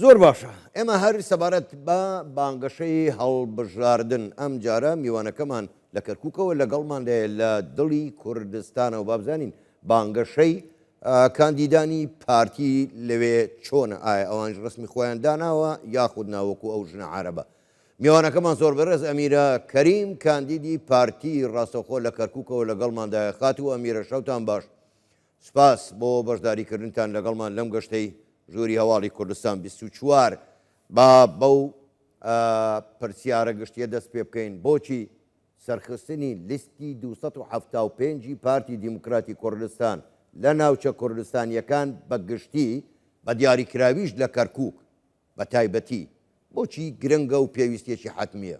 زۆر باشە ئێمە هەر سەبارەت بە بانگەشەی هەڵبژاردن ئەمجارە میوانەکەمان لە کەرکوکەوە لەگەڵمان دەیە لە دڵی کوردستانەوە بابزانین بانگەشەی کاندیدانی پارتی لەوێ چۆنە ئایا ئەوانش ڕسمی خۆیان داناوە یاخود ناوەکو ئەو ژنە عربە میوانەکەمان زۆر بەڕێز ئەمیرە کەریم کاندیدی پارتی ڕاستەخۆ لە کەرکوکەوە لەگەڵماندایە خات و ئەمیرە شەوتان باش سپاس بۆ بەشداریکردنتان لەگەڵمان لەم گەشتەی ژووری هەواڵی کوردستان بیست و چوار. با بەو پرسیارە گشتیە دەست پێ بکەین، بۆچی سەرخستنی لیستی دوو سەد و حەفتا و پێنج ی پارتی دیموکراتی کوردستان لە ناوچە کوردستانیەکان بە گشتی بە دیاریکراویش لە کەرکوک بە تایبەتی بۆچی گرنگە و پێویستیەکی حەتمیە؟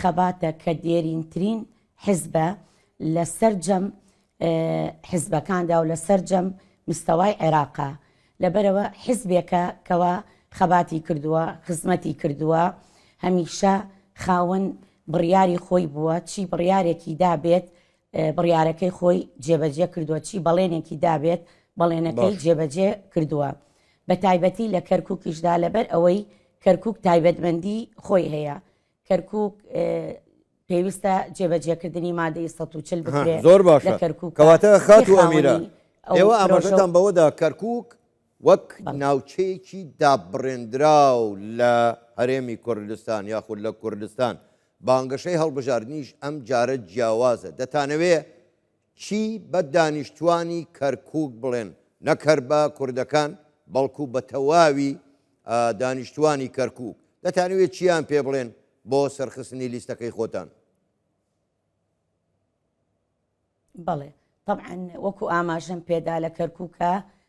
خەباتە کە دێرینترین حزبە لە سەرجەم حزبەکاندا و لە سەرجەم مستەوای عێراقا لەبەرەوە حزبێکە کەوا خەباتی کردووە خزمەتی کردووە هەمیشە خاوەن بڕیاری خۆی بووە چی بڕیارێکی دابێت بڕیارەکەی خۆی جێبەجێ کردووە چی بەڵێنێکی دابێت بەڵێنەکەی جێبەجێ کردووە بە تایبەتی لە کەرکووکیشدا لەبەر ئەوەی کەرکک تایبەتمەندی خۆی هەیە کەرکوک پێویستە جێبەجێکردنی مادەی سە و چل بکرێت زۆر باش کەرکک کەواتە خات و ئەمیرە ئێوە ئاماژەتان بەوەدا کەرکک وەک ناوچەیەکی دابڕێنراو لە هەرێمی کوردستان یاخود لە کوردستان بانگەشەی هەڵبژاردنیش ئەم جارە جیاوازە دەتانەوێ چی بە دانیشتوانی کەرکوک بڵێن، نەک هەر بە کوردەکان بەڵکو بە تەواوی دانیشتوانی کەرکوک، دەتانەوێت چییان پێ بڵێن بۆ سەرخستنی لیستەکەی خۆتان؟ بەڵێ تەبعەن وەکو ئاماژەم پێدا لە کەرکوکە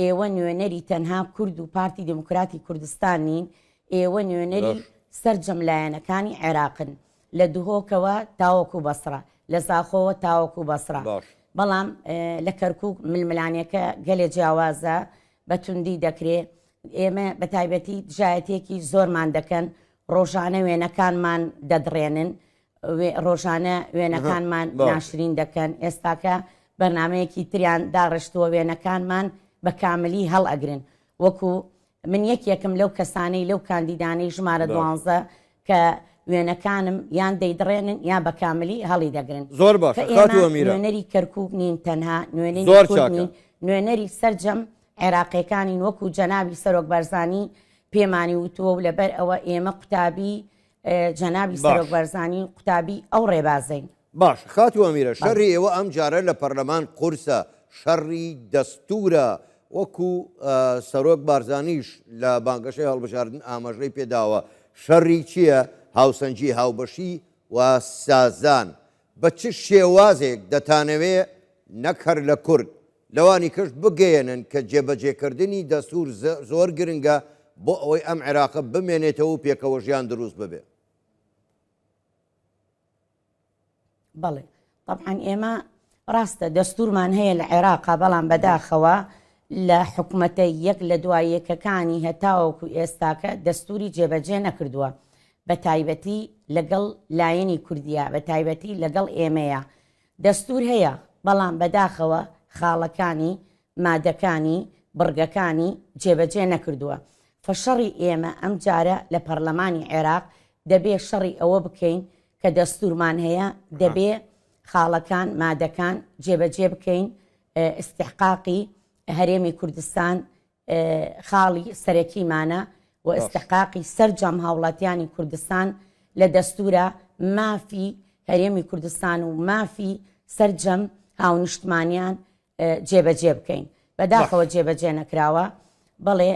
ئێوە نوێنەری تەنها کورد و پارتی دێموکراتی کوردستان نین، ئێوە نوێنەری بەخ. سەرجەم لایەنەکانی عێراقن، لە دهۆکەوە تاوەکو بەسڕە، لە زاخۆوە تاوەکو بەسڕە، باش. بەڵام لە کەرکووک ململانێکە گەلێ جیاوازە، بە توندی دەکرێ، ئێمە بە تایبەتی دژایەتییەکی زۆرمان دەکەن، ڕۆژانە وێنەکانمان دەدڕێنن، ڕۆژانە وێنەکانمان ناشرین دەکەن ئێستاکە بەرنمەیەکی تریان داڕشتووە وێنەکانمان بە کاملی هەڵ ئەگرن وەکو من یەکێکم لەو کەسانەی لەو کاندیدانەی ژمارە دوانزە کە وێنەکانم یان دەیدڕێنن یا بە کاملی هەڵی دەگرن زۆر باش نوێنەری کەرکک نین تەنها نوێنی زۆر نوێنەری سرجەم عێراقیەکانی وەکو جەناوی سەرۆک بەرزانی پێمانی وتووە و لەبەر ئەوە ئێمە قوتابی جەنابی سەرۆک بەرزانی و قوتابی ئەو ڕێبازەین باش خاتی وەمیرە شەڕی ئێوە ئەم جارە لە پەرلەمان قورسە شەڕی دەستورە وەکو سەرۆک بارزانیش لە بانگەشەی هەڵبژاردن ئاماژەی پێداوە شەڕی چییە هاوسەنجی هاوبەشی و سازان بە چ شێوازێک دەتانەوێ نەک هەر لە کورد، لەوانی کەش بگەیەنن کە جێبەجێکردنی دەستوور زۆر گرنگە بۆ ئەوەی ئەم عێراقە بمێنێتەوە و پێکەوەژیان دروست ببێ؟ بەڵێ، تەبعەن ئێمە ڕاستە دەستوورمان هەیە لە عێراقا، بەڵام بەداخەوە لە حکومەتە یەک لە دوای یەکەکانی هەتاوەکو ئێستاکە دەستووری جێبەجێ نەکردووە. بەتایبەتی لەگەڵ لایەنی کوردیە بەتایبەتی لەگەڵ ئێمەیە دەستور هەیە بەڵام بەداخەوە خاڵەکانی مادەکانی بڕگەکانی جێبەجێ نەکردوە فشەڕی ئێمە ئەم جارە لە پەرلەمانی عێراق دەبێ شەڕی ئەوە بکەین کە دەستورمان هەیە دەبێ خاڵەکان مادەکان جێبەجێ بکەین ئستحقاقی هەرێمی کوردستان خاڵی سەرەکیمانە و ئیستحقاقی سەرجەم هاوڵاتیانی کوردستان لە دەستورە، مافی هەرێمی کوردستان و مافی سەرجەم هاونیشتمانیان جێبەجێ بکەین. بەداخەوە جێبەجێ نەکراوە. بەڵێ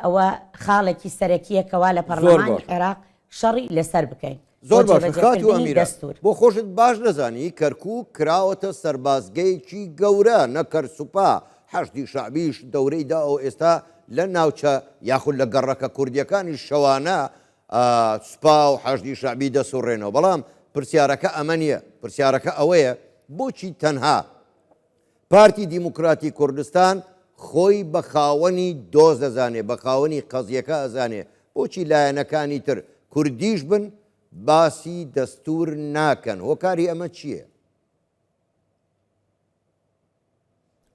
ئەوە خاڵێکی سەرەکیە کەوا لە پەڕلەمانی عێراق شەڕی لەسەر بکەین زۆر باشە خاتو ئەمیرە بۆ خۆشت باش نەزانی کەرکوک کراوەتە سەربازگەیەکی گەورە نەکەر سوپا حەشدی شەعبیش دەورەی دا و ئێستا لە ناوچە یاخود لە گەڕەکە کوردیەکانی شەوانە سوپا و حەشدی شەعبی دەسوڕێنەوە بەڵام پرسیارەکە ئەمە نیە پرسیارەکە ئەوەیە بۆچی تەنها پارتی دیموکراتی کوردستان خۆی بە خاوەنی دۆز ئەزانێ، بە خاوەنی قەزیەکە ئەزانێ، بۆچی لایەنەکانی تر کوردیش بن باسی دەستور ناکەن، هۆکاری ئەمە چیە؟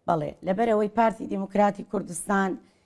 بەڵێ، لەبەرئەوەی پارتی دیموکراتی کوردستان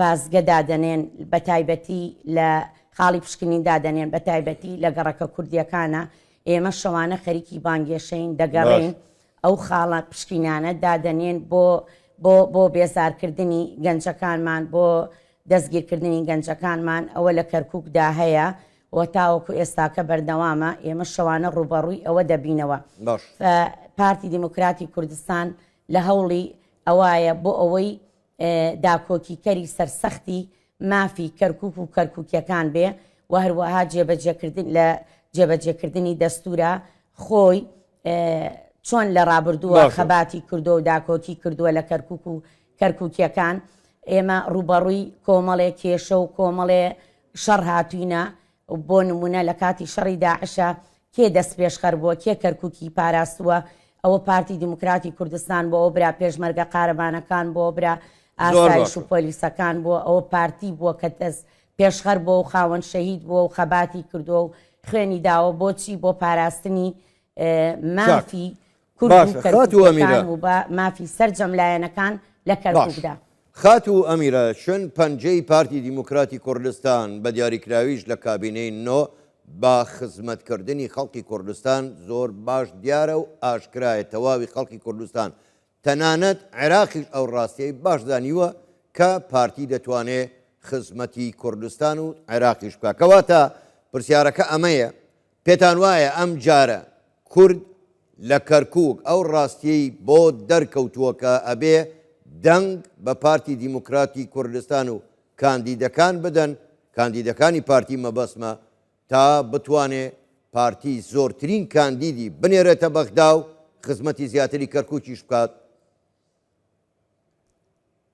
بازگە دادەنێن بەتایبەتی لە خاڵی پشکنین دادەنێن بەتایبەتی لە گەڕەکە کوردیەکانا ئێمە شەوانە خەریکی بانگێشەین دەگەڕێین ئەو خاڵە پشکینانە دادەنێن بۆ بۆ بۆ بێزارکردنی گەنجەکانمان بۆ دەستگیرکردنی گەنجەکانمان ئەوە لە کەرککدا هەیە و تاوەکو ئێستاکە بەردەوامە ئێمە شەوانە ڕوبەڕووی ئەوە دەبینەوە پارتی دیموکراتی کوردستان لە هەوڵی ئەوایە بۆ ئەوەی داکۆکیکەری سەرسەختی مافی کەرکوک و کەرکوکیەکان بێ و هەروەها جێبەجێکردن لە جێبەجێکردنی دەستورە خۆی چۆن لە ڕابردووە خەباتی کردو و داکۆکی کردووە لە کەرکک و کەرکوکیەکان ئێمە ڕوبەڕووی کۆمەڵێ کێشە و کۆمەڵێ شەڕ هاتوینە بۆ نموونە لە کاتی شەڕی داعشا کێ دەستپێشخەر بووە، کێ کەرکووکی پاراستووە، ئەوە پارتی دیموکراتی کوردستان بووە، ئەوە برا پێشمەرگە قارەمانەکان بووە، برا ئاسایش و پۆلیسەکان بووە، ئەوە پارتی بووە کە دەست پێشخەر بووە و خاوەن شەهید بووە و خەباتی کردووە و خوێنی داوە، بۆچی بۆ پاراستنی مافی باشە خاتوو ئەمیرە کورد و کەرکووکییەکان و بە مافی سەرجەم لایەنەکان لە کەرکووکدا. خاتوو ئەمیرە، چون پەنجەی پارتی دیموکراتی کوردستان، بە دیاریکراویش لە کابینەی نۆ، بە خزمەتکردنی خەڵکی کوردستان زۆر باش دیارە و ئاشکرایە، تەواوی خەڵکی کوردستان، تەنانەت عێراقیش ئەو ڕاستییەی باش زانیوە کە پارتی دەتوانێت خزمەتی کوردستان و عێراقیش بکات. کەواتە پرسیارەکە ئەمەیە، پێتان وایە ئەم جارە کورد لە کەرکوک ئەو ڕاستیەی بۆ دەرکەوتووە کە ئەبێ دەنگ بە پارتی دیموکراتی کوردستان و کاندیدەکان بدەن، کاندیدەکانی پارتی مەبەستمە، تا بتوانێ پارتی زۆرترین کاندیدی بنێرێتە بەغدا و خزمەتی زیاتری کەرکوکیش بکات؟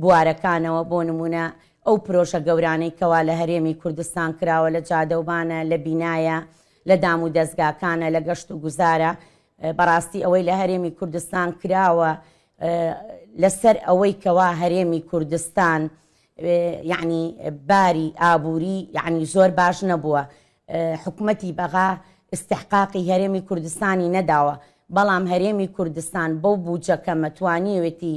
بوارەکانەوە، بۆ نموونە ئەو پرۆژە گەورانەی کەوا لە هەرێمی کوردستان کراوە لە جادەوبانە، لە بینایە، لە دام و دەزگاکانە، لە گەشت و گوزارە، بەڕاستی ئەوەی لە هەرێمی کوردستان کراوە لە سەر ئەوەی کەوا هەرێمی کوردستان یەعنی باری ئابووری یەعنی زۆر باش نەبووە حکومەتی بەغا ئیستحقاقی هەرێمی کوردستانی نەداوە بەڵام هەرێمی کوردستان بەو بووجە کەمە توانیوێتی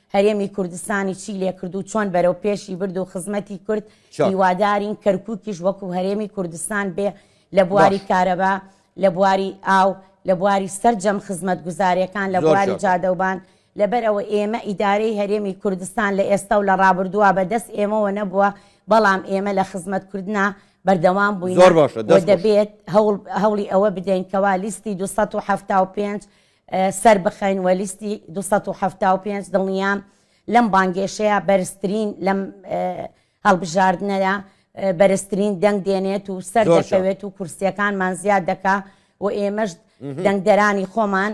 هەرێمی کوردستانی چی لێکرد و چۆن بەرەو پێشی برد و خزمەتی کورد هیوادارین کەرکووکیش وەکو هەرێمی کوردستان بێ لە بواری کارەبا لە بواری ئاو لە بواری سەررجەم خزمەت گوزارەکان لە بواری جادەوبان لەبەر ئەوە ئێمە ئیدارەی هەرێمی کوردستان لە ئێستا و لە ڕابردووە بە دەست ئێمەوە نەبووە بەڵام ئێمە لە خزمەت کردنا بەردەوام بووین دەبێت هەوڵی ئەوە بدەین کەوا لیستی 275 سەربخەین وە لیستی دوو سەد و حەفتا و پێنج دڵنیام لەم بانگێشەیە بەرزترین لەم هەڵبژاردنەدا بەرزترین دەنگ دێنێت و سەر دەکەوێت و کورسیەکانمان زیاد دەکا و ئێمەش دەنگدەرانی خۆمان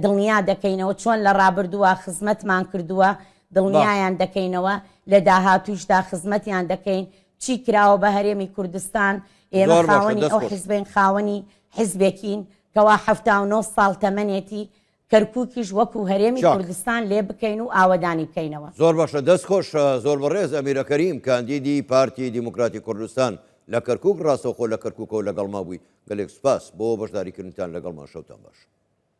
دڵنیا دەکەینەوە چۆن لە ڕابردووە خزمەتمان کردووە دڵنیایان دەکەینەوە لە داهاتوشدا خزمەتیان دەکەین چی کراوە بە هەرێمی کوردستان ئێمە خاوەنی ئەو حزبین خاوەنی حزبێکین کەوا حەفتا و نۆ ساڵ تەمەنێتی کەرکووکیش وەکو هەرێمی کوردستان لێ بکەین و ئاوەدانی بکەینەوە زۆر باشە دەست خۆش زۆر بەڕێز ئەمیرە کەریم کاندیدی پارتی دیموکراتی کوردستان لە کەرکک ڕاستەوخۆ لە کەرککەوە لەگەڵما بووی گەلێک سپاس بۆ بەشداریکردنتان لەگەڵمان شەوتان باش.